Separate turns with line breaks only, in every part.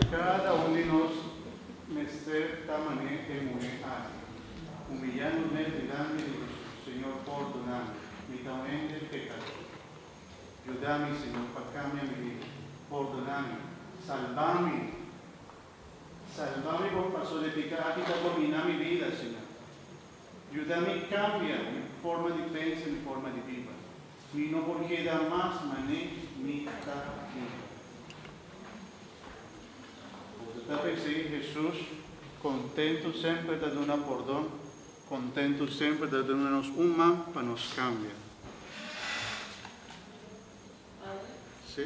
Cada un di nos mester ta man'e e muhe aki, humiliando n'e dilanti di Jesús, Señor, pordonami, mi ta un hende pecador. Judami, Señor, pa cambia mi vida. Pordonami. Salbami. Salbami, pasobra e pica aki ta domina mi vida, Señor. Yuda mi kambia mi forma di pensa i mi forma di biba. Mi no por keda mas manei mi ta biba. Bo ta tape esei? Hesus kontentu semper ta duna pordon, kontentu semper ta duna nos un man pa nos kambia. Si?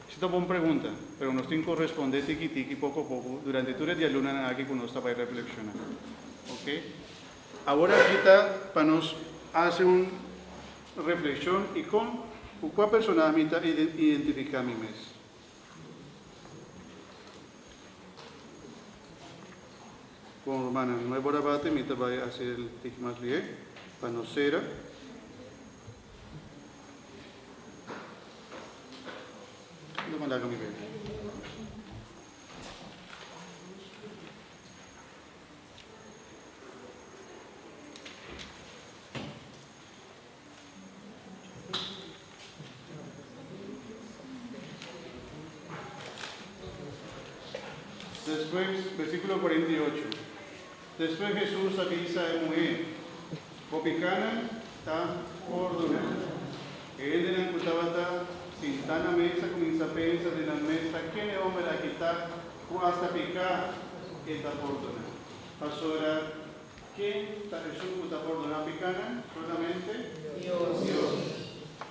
Su ta bon pregunta, pero nos tin ku respond'é tiki tiki, poko poko, durante tur e dialunanan aki ku nos ta bai reflekshoná. Oke? Awor aki ta pa nos hasi un reflekshon, I kon ku kua personahe mi ta identifiká mi mes? Bon, rumannan, no e bor abatin, mi ta bai hasi el tiki mas bihé pa nos sera. Despues, versiculo cuarenta y ocho. Despues Hesus a bisa e muhé, Bo pikánan ta pórdoná. E hendenan ku tabata sintá na mes a kuminsá pensa den nan mes, Ta ken e hòmber aki ta ku asta piká e ta pórdoná? Pasobra ken ta Hesus ku ta pórdoná pikánan? Solamente Dios.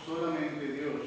Solamente Dios.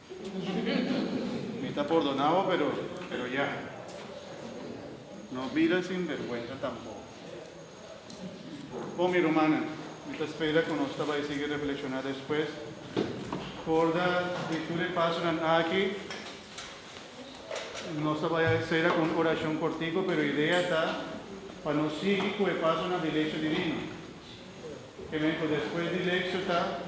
Mi ta pordona bo pero pero ya. No bida sinvergwenza tampoko. Bon mi rumannan, mi ta spera ku nos ta bai sigui reflekshoná despues for da di tur e pasonan aki. Nos ta bai a sera ku un orashon kortiko pero idea ta pa nos sigui ku e pasonan di Lekshon Divino. Ke men ku despues di Lekshon ta.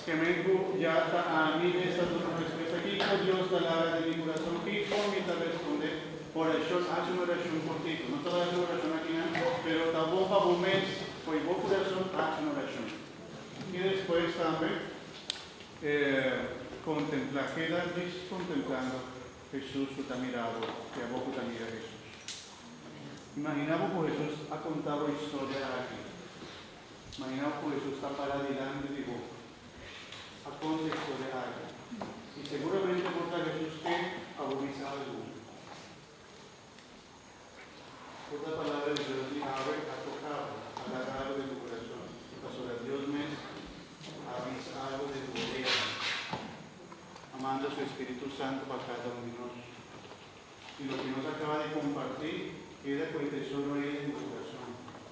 Skemen ku ya ta ami e sa duna respesa kiko Dios ta laga den mi kurason, kiko mi ta responde orashon, haci un orashon kortito. No ta laga tur orashon akinan, pero ta bon pa bo mes fo'i bo kurason haci un orashon. I despues tambe e kontemplá, keda bishi kontemplando Hesus ku ta mira bo i abo ku ta mira Hesus. Imaginá bo ku Hesus a konta bo historia aki. Maña of hoysus ta para dilanti di bo. A contexto de algo. Y seguramente bo ta Jesus ke pa bo bisa algu. Por ta palabra di Dios di awe a toka bo, a laga algo den bo corazon. Y pasobra Dios mes a bisa algo den bo oreha, a manda su Espiritu Santo pa cada un di nos. Y loke nos a caba di comparti keda cu e tesoro ey den bo corazon.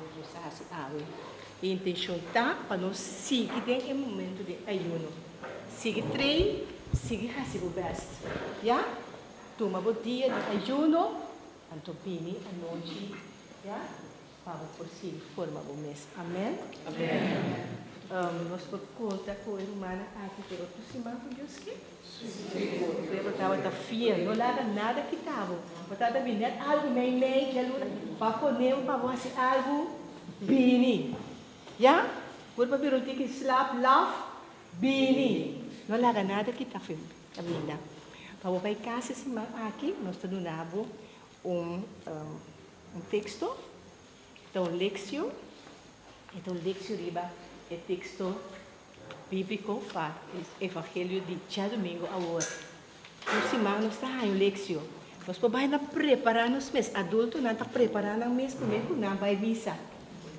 Nos los a hasi awe. E intencion ta pa nos sigui den e momento di ayuno. Sigui train, sigui hasi bo best. Ya? Tuma bo dia di ayuno, anto bini anochi, ya? pa bo por sigui forma bo mes. Amen? Amen. Nos por conta cu e rumannan aki por otro siman cu Dios ke. Tabata ta fiel, no laga nada kita bo. Bo tabata bini den algu mei mei dialuna, pa pone'e pa bo hasi algu, bini. Ya? Bo tabata bira un tiki slaap laf, bini. No laga nada kita fe, kaminda. Pa bo bai kas e siman aki, nos ta duna bo un teksto. Ta un leksio, e ta un leksio riba e teksto bíbliko pa e evangelio di djadumingu awor. Tur siman nos ta haña un leksio. Nos por bai na prepará nos mes. Adultonan ta prepará nan mes promé ku nan bai misa.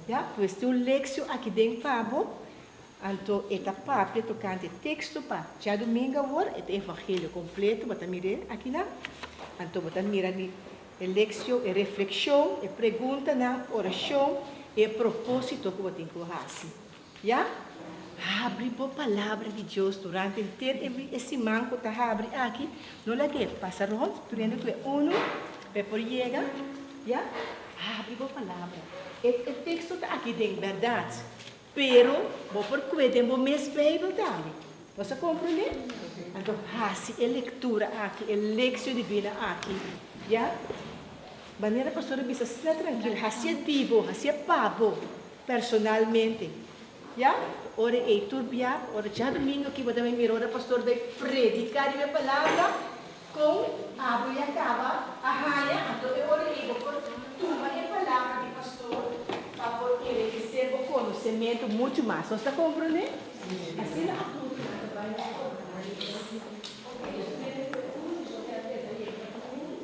Ya, pues tin un leksio aki den pa bo. Anto e ta papia tokante e teksto pa djadumingu awor, e ta evangelio kompleto, bo ta mir'é akinan. Anto bo ta mira di E lekshon, e reflekshon, e preguntanan, orashon i e propósito ku bo tin ku bo hasi. Ya? Habri bo Palabra di Dios durante henter e siman ku ta habri aki. No laga e pasa rònt prendiendo tur e unu pa e por yega. Ya? Habri bo Palabra. E teksto ta aki den, bèrdat. Pero bo por kue den bo mes Bijbel tambe. Nos a komprondé? Anto hasi e lektura aki, e leksio divin'e aki, ya. Manera Pastor a bisa, sta trankil, hasié di bo, hasié pa bo, personalmente, ya. Ora ei tur bia, ora djadumingu aki bo ta bay mira ora Pastor bay prediká den e Palabra. Kon abo ya kaba a haña anto e ora ei bo por tuma e palabra di pastor pa por enrikesé bo konosementu muchu mas? Nos ta komprondé? Asina apuru nan ta bai na e ora nan di Elohim. Oke, nos ta mete e pregunta di por keda yega na un.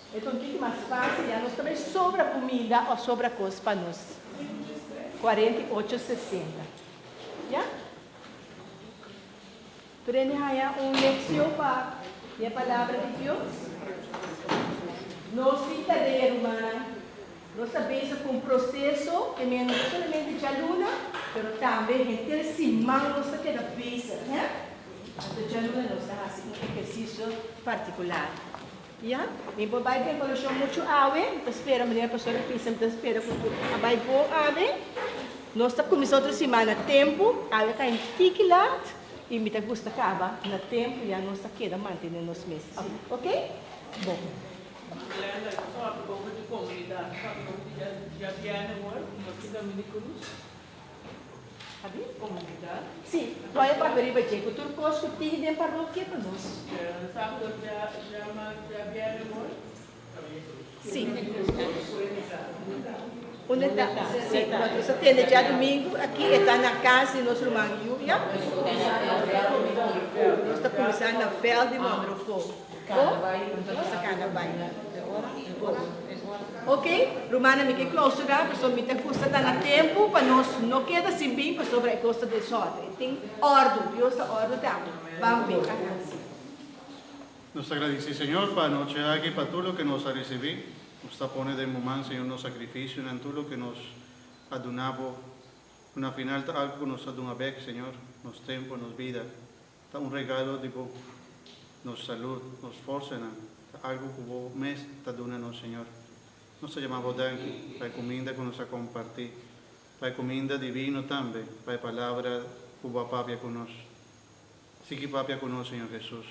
Eton kiko mas pasa ya nos ta bay sobra kumida o sobra kos pa nos kuarenta i ocho sesenta ya? Prende haña un leksion pa e palabra di Dios. Nos tin ta rei rumannan, nos ta bezig ku un proseso ke men no ta solamente djaluna pero tambe henter siman nos ta keda bezig, he? Anto djaluna nos ta hasi un ehersisio partikular. Ya, mi por bai den koleksyon muchu awe, mi ta spera manera Pastor a bisa, mi ta spera ku a bai bon awe. Nos ta kuminsá otro simana a tempu, awe a kai un tiki lat i mi ta gusta kaba na tempu ya, nos ta keda mantené nos mes así, oke? Bon.
Sí, lo hay
papia riba dje cu tur cos cu tin den parokia pa nos. Sí. Unde ta? Sí, nos ta tende dje domingo aki, e ta na cas di nos ruman Julia. Nos ta cuminsa na veld di Monroefo. Oke rumannan mi ke clausura pasobra mi ta gusta ta na tempu pa nos no keda sin bin pasobra e kos ta desorden e tin ordu Dios ta ordu tambe ban pe a hansi. Nos
ta gradisí Señor pa anochi aki pa tur loke nos a risibí nos ta pone den Bo man Señor nos sakrifisionan tur loke nos a duna Bo una final ta algu ku nos ta duna bek Señor nos tempu nos bida Ta un regalo di bo. Nos salud, nos forsanan, ta algu ku bo mes ta duna nos, Señor. Nos ta yama bo danki pa e kuminda ku nos a kompartí, pa e kuminda divino tambe, pa e palabra ku bo a papia ku nos. Sigui papia ku nos, Señor Hesus.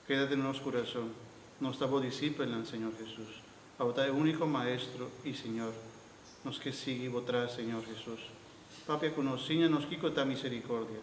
Kedate na nos kurason. Nos ta bo disipelnan, Señor Hesus. Abo ta e úniko Maestro i Señor. Nos ke sigui bo tras, Señor Hesus. Papia ku nos, siña nos kiko ta miserikordia.